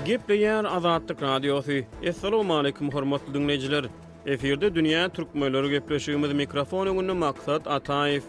Gepleýär Azatlyk Radiosy, Essalamualeýkum hormatly diňleýjiler! Efirde dünýä türkmenleri gepleşigimiz mikrofon öňünde Maksat Ataýew.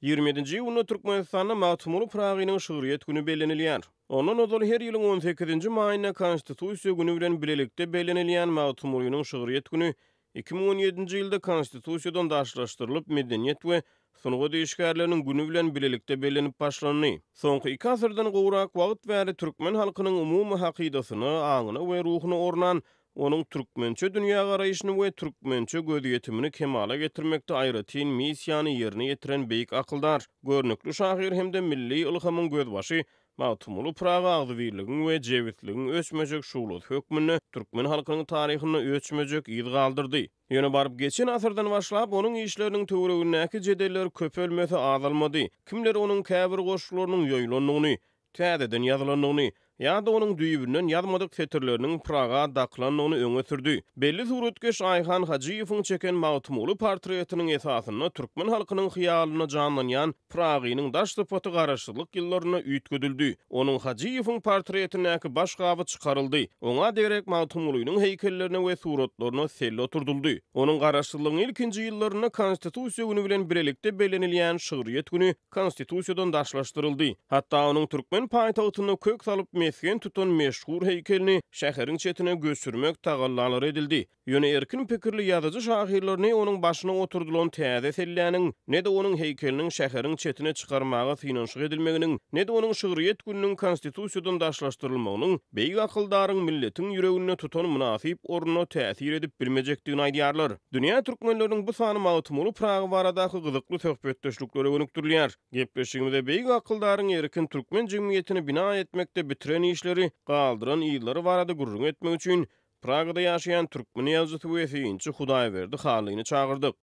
Ýigrimi ýedinji iýunda Türkmenistanda Magtymguly Pyragynyň şygryýet güni bellenilýär. Ondan ozal her ýylyň on sekizinji maýynda Konstitusiýa güni bilen bilelikde bellenilýän Magtymgulynyň şygryýet güni iki müň on ýedinji ýylda Konstitusiýadan daşlaşdyrylyp, Medeniýet we sungat işgärleriniň güni bilen bilelikde bellenip başlandy. Soňky iki asyrdan gowrak wagt bäri türkmen halkynyň umumy hakydasyna, aňyna we ruhuna ornan onuň türkmençe dünýägaraýşyny we türkmençe gözýetimini kemala getirmekde aýratyn missiýany ýerine ýetiren beýik akyldar, görnükli şahyr hem-de milli ylhamyň gözbaşy Magtymguly Pyragy agzybirligiň we jebisligiň öçmejek şuglasy hökmünde türkmen halkynyň taryhynda öçmejek yz galdyrdy. Ýöne baryp geçen asyrdan başlap onuň işleriniň töweregindäki jedeller köpelmese azalmady. Kimler onuň käbir goşgularynyň ýoýulandygyny, täzeden ýazylandygyny ýa-da onuň düýbünden ýazmadyk setirleriniň Praga dakylandygyny öňe sürdi. Belli suratkeş Aýhan Hajyýewiň çeken Magtymguly portretiniň esasynda türkmen halkynyň hyýalynda janlanýan Pragynyň daş sypaty Garaşsyzlyk ýyllarynda üýtgedildi. Onuň, Hajyýewiň, portretindäki baş gaby çykaryldy. Oňa degerek Magtymgulynyň heýkellerine we suratlaryna selle oturdyldy. Onuň Garaşsyzlygyň ilkinji ýyllarynda Konstitusiýa güni bilen birlikde bellenilýän Şygryýet güni Konstitusiýadan daşlaşdyryldy. Hatda onuň türkmen paýtagtynda kök salyp mesgen tutan meşhur heýkelini şäheriň çetine göçürmek tagallalary edildi. Ýöne erkin pikirli ýazyjy-şahyrlar ne onuň başyna oturdylan täze selläniň, ne-de onuň heýkeliniň şäheriň çetine çykarmaga synanyşyk edilmeginiň, ne-de onuň şygryýet gününiň Konstitusiýadan daşlaşdyrylmagynyň beýik akyldaryň milletiň ýüreginde tutan mynasyp ornuna täsir edip bilmejekdigini aýdýarlar. Dünýä türkmenleriniň bu sany Magtymguly Pyragy baradaky gyzykly söhbetdeşliklere gönükdirilýär. Gepleşigimize beýik akyldaryň erkin türkmen jemgyýetini bina etmekde bitiren işleri, galdyran yzlary barada gürrüň etmek üçin Pragada ýaşaýan türkmen ýazyjysy we synçy Hudaýberdi Hallyny çagyrdyk.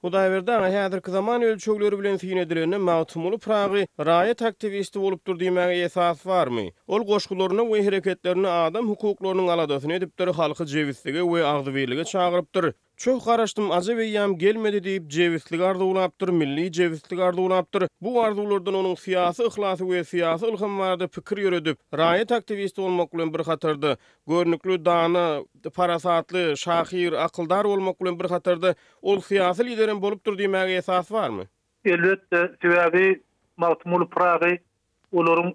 Hudaýberdi aga häzirki zaman ölçegleri bilen syn edilende Magtymguly Pyragy raýat aktiwisti bolupdyr diýmäge esas barmy? Ol goşgularynda we hereketlerinde adam hukuklarynyň aladasyny edipdir, halky jebislige we agzybirlige çagyrypdyr. Çoh garaşdym, ajap eýýam gelmedi diýip, jebisligi arzuwlapdyr, milli jebisligi arzuwlapdyr. Bu arzuwlardan onuň syýasy yhlasy we syýasy ylhamy barada pikir ýöredip, raýat aktiwisti bolmak bilen bir hatarda, görnükli dana, parasatly, şahyr, akyldar bolmak bilen bir hatarda, Ol syýasy liderem bolupdyr diýmäge esas barmy? Elbetde, sebäbi Magtymguly Pyragy olaryň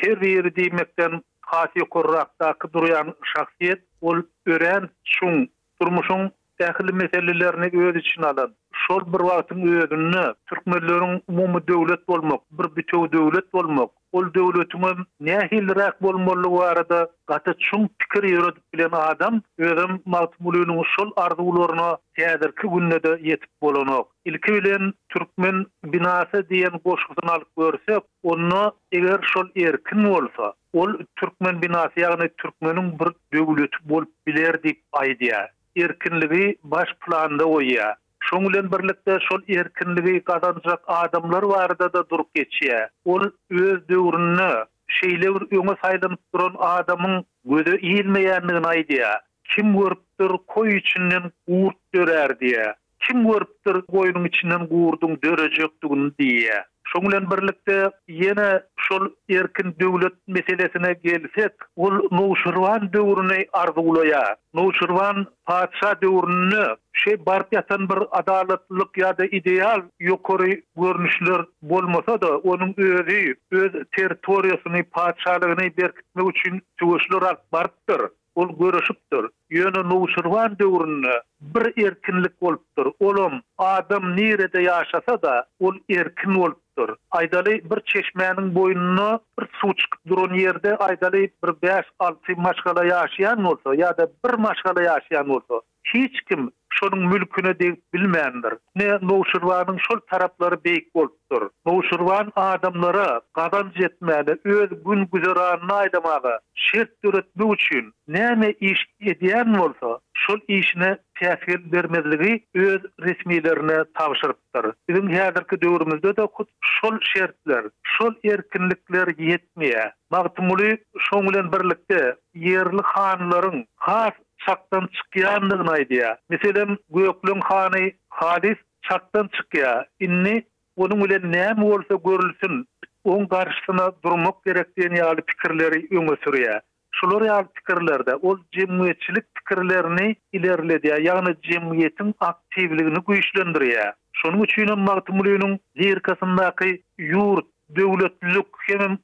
her biri diýmekden has ýokarrakdaky durýan şahsyýet. Ol örän çuň, durmuşyň ähli meselelerini öz içine alan, şol bir wagtyň özünde türkmenleriň umumy döwlet bolmak, bir bitew döwlet bolmak, Ol döwletiňem nähiliräk bolmalydygy barada gaty çuň pikir ýöredip bilen adam, özem Magtymgulynyň şol arzuwlaryna häzirki günde-de ýetip bolanok. Ilki bilen Türkmen binasy diýen goşgusyny alyp görsek, onda eger şol erkin bolsa, ol Türkmen binasy, ýagny türkmeniň bir döwleti bolup biler diýip aýdýar. Erkinligi baş planda goýýar. Şonuň bilen birlikde şol erkinligi gazanjak adamlar barada-da durup geçýär. Ol öz döwründe şeýle bir öňe saýlanyp duran adamyň göze ilmeýändigini aýdýar. Kim görüpdir, koý içinden gurt dörär diýýär. Kim görüpdir, goýnuň içinden gurduň dörejekdigini diýýär. Şoň bilen birlikde, ýene şol erkin döwlet meselesine gelsek, ol nowşirwan döwrüni arzuwlaýar. Nowşirwan patyşa döwründe şeý baryp ýatan bir adalatlylyk ýa-da ideal ýokary görnüşler bolmasa-da, onuň özi öz territoriýasyny, patyşalygyny berkitmek üçin söweşler alyp barypdyr. Ol görüşipdir. Ýöne Nuşirwan döwründe bir erkinlik bolupdyr, olam, adam nirede ýaşasa-da, ol erkin bolupdyr. Aýdaly, bir çeşmäniň boýnuna bir suw çykyp duran ýerde, aýdaly, bir bäş-alty maşgala ýaşaýan bolsa ýa-da bir maşgala ýaşaýan bolsa, Hiç kim şonuň mülküne degip bilmändir. Ine, Nowşirbanyň şol taraplary beýik bolupdyr. Nowşirban adamlara gazanç etmäne, öz gün-güzeranyny aýlamaga şert döretmek üçin näme iş edýän bolsa, şol işine päsgel bermezligi öz resmilerine tabşyrypdyr. Biziň häzirki döwrümizde-de hut şol şertler, şol erkinlikler ýetmeýär. Magtymguly şoň bilen birlikde ýerli hanlaryň has çakdan çykýandygyny aýdýar. Meselem, Gökleň hany halys çakdan çykýar. Indi onuň bilen näme bolsa görülsin, oň garşysyna durmak gerek diýen ýaly pikirleri öňe sürýär. Şular ýaly pikirlerde ol jemgyýetçilik pikirlerini ilerledýär, ýagny jemgyýetiň aktiwligini güýçlendirýär. Şonuň üçinem Magtymgulynyň lirikasyndaky ýurt, döwletlilik hemem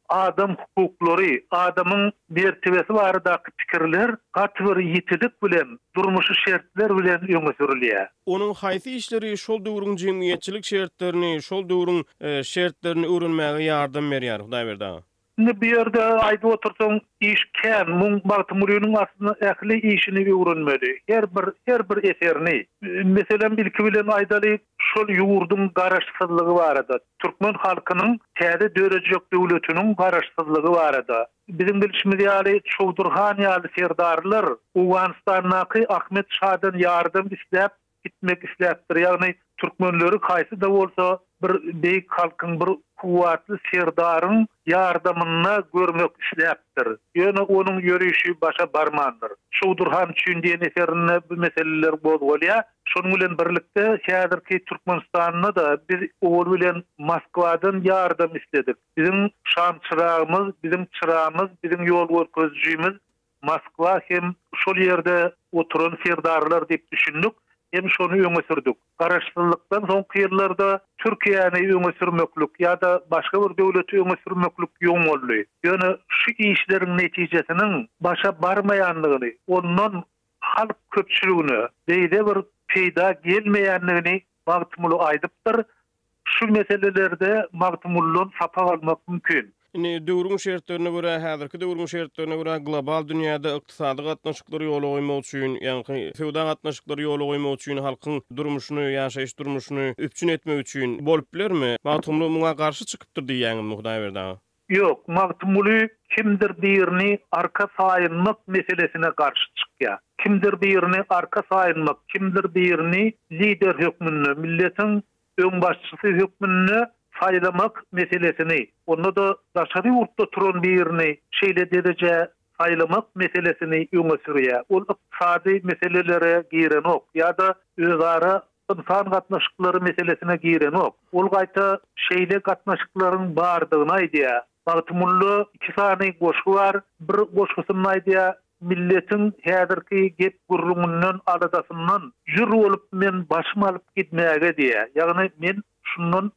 Adam hukuklary, adamyň mertebesi baradaky pikirler gaty bir ýitilik bilen, durmuşy şertler bilen öňe sürülýär. Onuň haýsy işleri şol döwrüň jemgyýetçilik şertlerini, şol döwrüň şertlerini öwrenmäge ýardam berýär, Hudaýberdi aga? Indi bu ýerde aýdyp otursaň iş kän. Muň Magtymgulynyň aslynda ähli işini öwrenmeli. Her bir, her bir eserini. Meselem, ilki bilen aýdaly, şol ýurduň garaşsyzlygy barada. Türkmen halkynyň täze dörejek döwletiniň Garaşsyzlygy barada. Biziň bilşimiz ýaly, Çowdur han ýaly serdarlar Owganystandaky Ahmet şadan ýardam isläp gitmek isläpdir, ýagny türkmenleri haýsy-da bolsa bir beýik halkyň, bir kuwwatly serdaryň ýardamynda görmek isläpdir. Ýöne onuň ýörüşi başa barmandyr. Çowdur han üçin diýen eserinde bu meseleler gozgalýar. Şonuň bilen birlikde, häzirki Türkmenistanda-da biz owal bilen Moskwadan ýardam isledik. Biziň şamçyragymyz, biziň çyramyz, biziň ýol görkezijimiz Moskwa hem şol ýerde oturan serdarlar diýip düşündik hem şony öňe sürdük. Garaşsyzlykdan soňky ýyllarda Türkiýäni öňe sürmeklik ýa-da başga bir döwleti öňe sürmeklik ýoň boldy. Ýöne şu işleriň netijesiniň başa barmaýandygyny, ondan halk köpçüligine beýle bir peýda gelmeýändigini Magtymguly aýdypdyr. Şu meselelerde Magtymgulydan sapak almak mümkin. Indi döwrüň şertlerine görä, häzirki döwrüň şertlerine görä global dünýäde ykdysady gatnaşyklary ýola goýmak üçin, ýaňky söwda gatnaşyklary ýola goýmak üçin halkyň durmuşyny, ýaşaýyş durmuşyny üpjün etmek üçin bolup bilermi? Magtymguly muňa garşy çykypdyr diýýäňizmi Hudaýberdi aga? Ýok, Magtymguly kimdir birini arka saýynmak meselesine garşy çykýar. Kimdir birini arka saýynmak, kimdir birini lider hökmünde, milletiň öňbaşçysy hökmünde saýlamak meselesini, onda-da daşary ýurtda turan birini şeýle derejä saýlamak meselesini öňe sürýär. Ol ykdysady meselelere girenok ýa-da özara ynsan gatnaşyklary meselesine girenok. Ol gaýta şeýle gatnaşyklaryň bardygyny aýdýar. Magtymgulla iki sany goşgy bar. Bir goşgusynda aýdýar, Milletiň häzirki gep-gürrüňinden, aladasyndan jür bolup men başym alyp gidmäge diýýär. Ýagny men şundan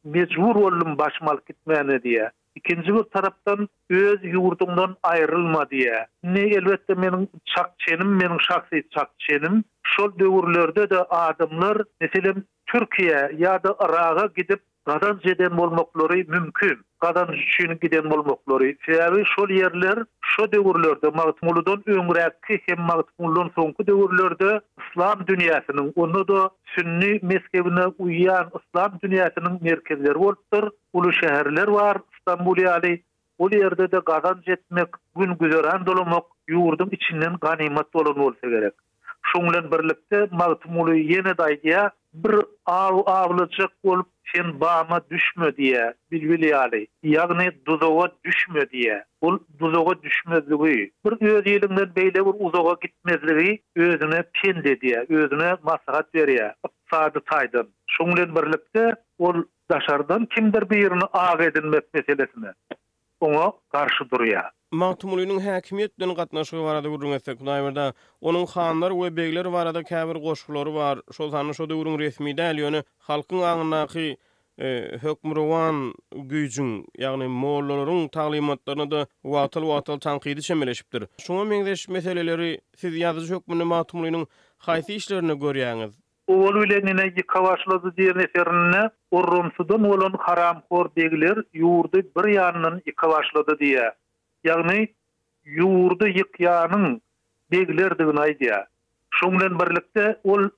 mejbur boldum başym alyp gitmäne diýýär. Ikinji bir tarapdan öz ýurduňdan aýrylma diýýä. Indi elbetde meniň çak çenim, meniň şahsy çak çenim, şol döwürlerde-de adamlar, meselem, Türkiýä ýa-da Yraga gidip gazanç eden bolmaklary mümkin. Gazanç üçin giden bolmaklary. Sebäbi şol ýerler şo döwürlerde Magtymgulydan öňräkki hem Magtymgulydan soňky döwürlerde yslam dünýäsiniň, onda-da sünni mezhebine uýýan yslam dünýäsiniň merkezleri bolupdyr. uly şäherler bar, Stambul ýaly, ol ýerde-de gazanç etmek, gün-güzeran dolamak ýurduň içinden ganymat bolan bolsa gerek. Şoň bilen birlikde Magtymguly ýene-de aýdýar. Bir aw awlajak bolup sen bama düşme diýýär, bilbil ýaly, ýagny duzaga düşme diýýär. Ol duzaga düşmezligi, bir öz iliňden beýle bir uzaga gitmezligi özüne pent edýär, özüne maslahat berýär, ykdysady taýdan. Şoň bilen birlikde ol Daşardan kimdir birini ak edinmek meselesine oňa garşy durýar. Magtymgulynyň häkimiýet bilen gatnaşygy barada gürrüň etsek, Hudaýberde onuň hanlar we begler barada käbir goşgulary bar. Şol sanda şo döwrüň resmi däl, ýöne halkyň aňyndaky hökmürowan güýjüň, ýagny mollalaryň taglymatlaryna-da wagtal-wagtal tankydy çemeleşipdir. Şuňa meňzeş meseleleri siz ýazyjy hökmünde Magtymgulynyň haýsy işlerinde görýäňiz? Owal bilen ine ýyka başlady diýen eserinde Orromsudan bolan haramhor begler ýurdy bir ýandan ýyka başlady diýýär. Ýagny, ýurdy ýykýanyň beglerdigini aýdýar. Şoň bilen birlikde ol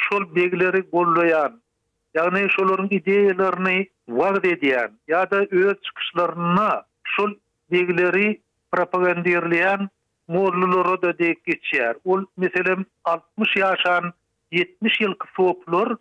şol begleri goldaýan, ýagny şolaryň ideýalaryny wagyz edýän ýa-da öz çykyşlarynda şol begleri propagandirleýän Mollulara-da dek geçýär. Ol, meselem, altmyş ýaşan ýetmiş ýylky soplar,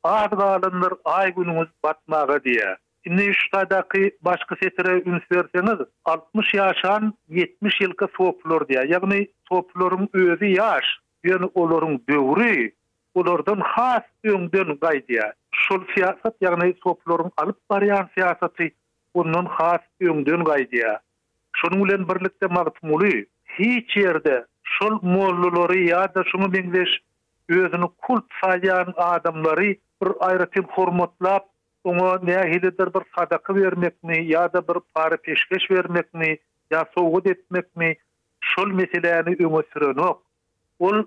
Az galandyr aý-günüňiz batmaga diýýär. Indi şu taýdaky başky setire üns berseňiz, altmyş ýaşan ýetmiş ýylky soplar diýýär. Ýagny, soplaryň özi ýaş, ýöne olaryň döwri olardan has öňden gaýdýar. Şol syýasat, ýagny soplaryň alyp barýan syýasaty ondan has öňden gaýdýar. Şonuň bilen birlikde Magtymguly hiç ýerde şol mollalary ýa-da şuňa meňzeş özüni kult saýýan adamlary bir aýratyn hormatlap, oňa nähilidir bir sadaka bermekmi ýa-da bir para-peşgeş bermekmi ýa sowgat etmekmi şol meseläni öňe sürenok. Ol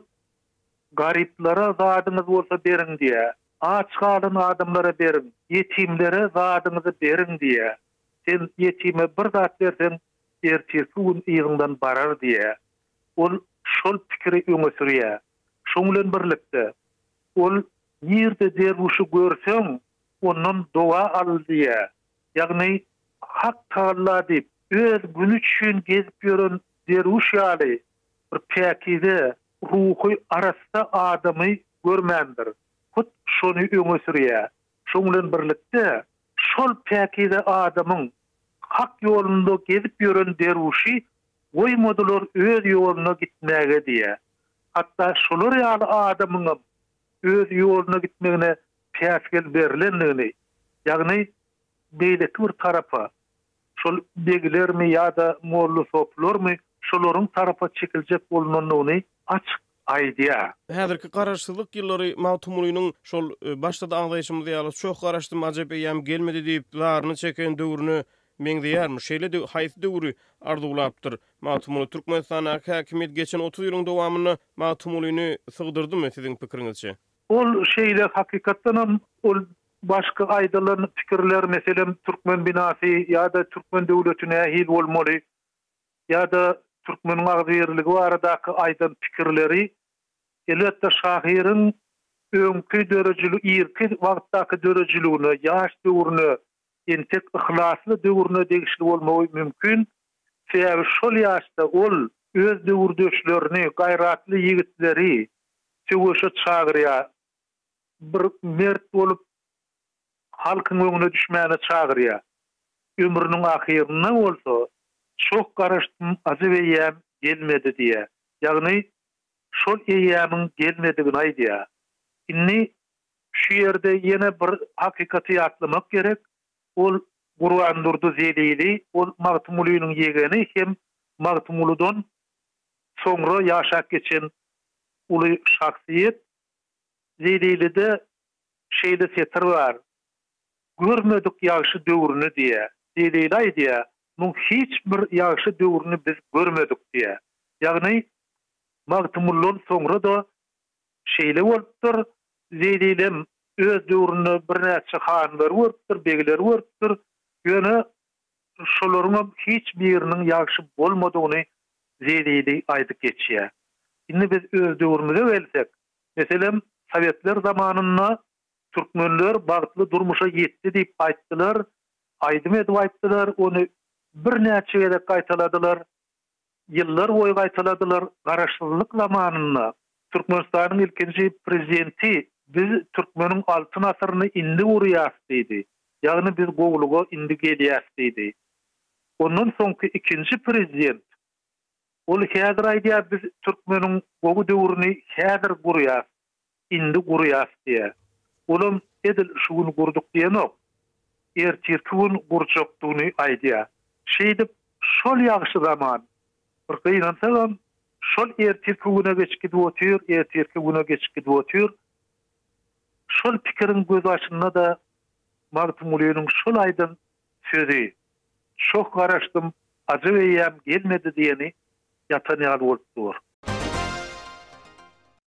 Garyplara zadyňyz bolsa beriň diýýär. Aç galan adamlara beriň, ýetimlere zadyňyzy beriň diýýär. Sen ýetime bir zat berseň, ertirki gün yzyňdan barar diýýär. Ol şol pikiri öňe sürýär. Şoň bilen birlikde, ol Nirde derwüşi görseň, ondan doga al diýýär. Ýagny, Hak tagalla diýip, öz güni üçin gezip ýören derwüş ýaly bir päkize, ruhy arassa adamy görmändir. Hut şony öňe sürýär. Şoň bilen birlikde, Şol päkize adamyň Hak ýolunda gezip ýören derwüşi goýmadylar öz ýoluna gitmäge diýýär. Hatda şolar ýaly adamyňam öz ýoluna gitmegine päsgel berlendigini, ýagny beýleki bir tarapa, şol beglermi ýa-da mollasopylarmy şolaryň tarapa çekiljek bolnandygyny açyk aýdýar. Häzirki Garaşsyzlyk ýyllary Magtymgulynyň şol başda-da agzaýşymyz ýaly Çoh garaşdym, ajep eýýam gelmedi diýip, zaryny çeken döwrüne meňzeýärmi? Şeýle-de haýsy döwri arzuwlapdyr? Magtymguly Türkmenistandaky häkimiýet geçen otuz ýylyň dowamynda Magtymgulyny sygdyrdymy, siziň pikiriňizçe? Ol şeýle, hakykatdanam, ol Başky aýdylan pikirler meselem Türkmen binasy ýa-da Türkmen döwleti nähili bolmaly ýa-da Türkmeniň agzybirligi baradaky aýdan pikirleri elbetde şahyryň öňki döredijili irki wagtdaky döredijiligine ýaş döwrüne entek yhlasly döwrüne degişli bolmagy mümkin sebäbi şol ýaşda ol öz döwürdeşlerini gaýratly ýigitleri söweşe çagyrýar. bir mert bolup, halkyň öňüne düşmäne çagyrýar. Ömrüniň ahyrynda bolsa, Çoh garaşdym, ajap eýýäm gelmedi diýýär. Ýagny, şol eýýämiň gelmedigini aýdýar. Indi şu ýerde ýene bir hakykaty ýatlamak gerek, ol Gurbandurdy Zelili, ol Magtymgulynyň ýegeni hem Magtymguludan soňra ýaşap geçen uly şahsyýet. Zelilide şeýle setir bar, Görmedik ýagşy döwrüni diýýär. Zelile aýdýar, Muň hiç bir ýagşy döwrüni biz görmedik diýýär. Ýagny, Magtymguldan soňra-da şeýle bolupdyr. Zelilem öz döwründe birnäçe hanlary görüpdir, begleri görüpdir. Ýöne Şolaryňam hiç biriniň ýagşy bolmadygyny Zelili aýdyp geçýär. Indi biz öz döwrümize gelsek, meselem, sowetler zamanynda türkmenler bagtly durmuşa ýetdi diýip aýtdylar, aýdym edip aýtdylar, ony birnäçe gezek gaýtaladylar. ýyllar boýy gaýtaladylar, Garaşsyzlyk zamanynda Türkmenistanyň ilkinji Prezidenti Biz türkmeniň altyn asyryny indi gurýas diýdi, ýagny biz gowulyga indi gelýäs diýdi. Ondan soňky ikinji Prezident Ol häzir aýdýar biz türkmeniň gowy döwrüni häzir gurýas. Indi gurýas diýýär. Olam edil şu gün gurduk diýenok. Ertirki gün gurjakdygyny aýdýar. Şeýdip, şol ýagşy zaman. Bir gynansagam, şol ertirki güne geçip gidip otyr, ertirki güne geçip gidip otyr. Şol pikiriň gözbaşynda-da Magtymgulynyň şol aýdan sözi, Çoh garaşdym, ajap eýýäm gelmedi diýeni ýatan ýaly bolup dur.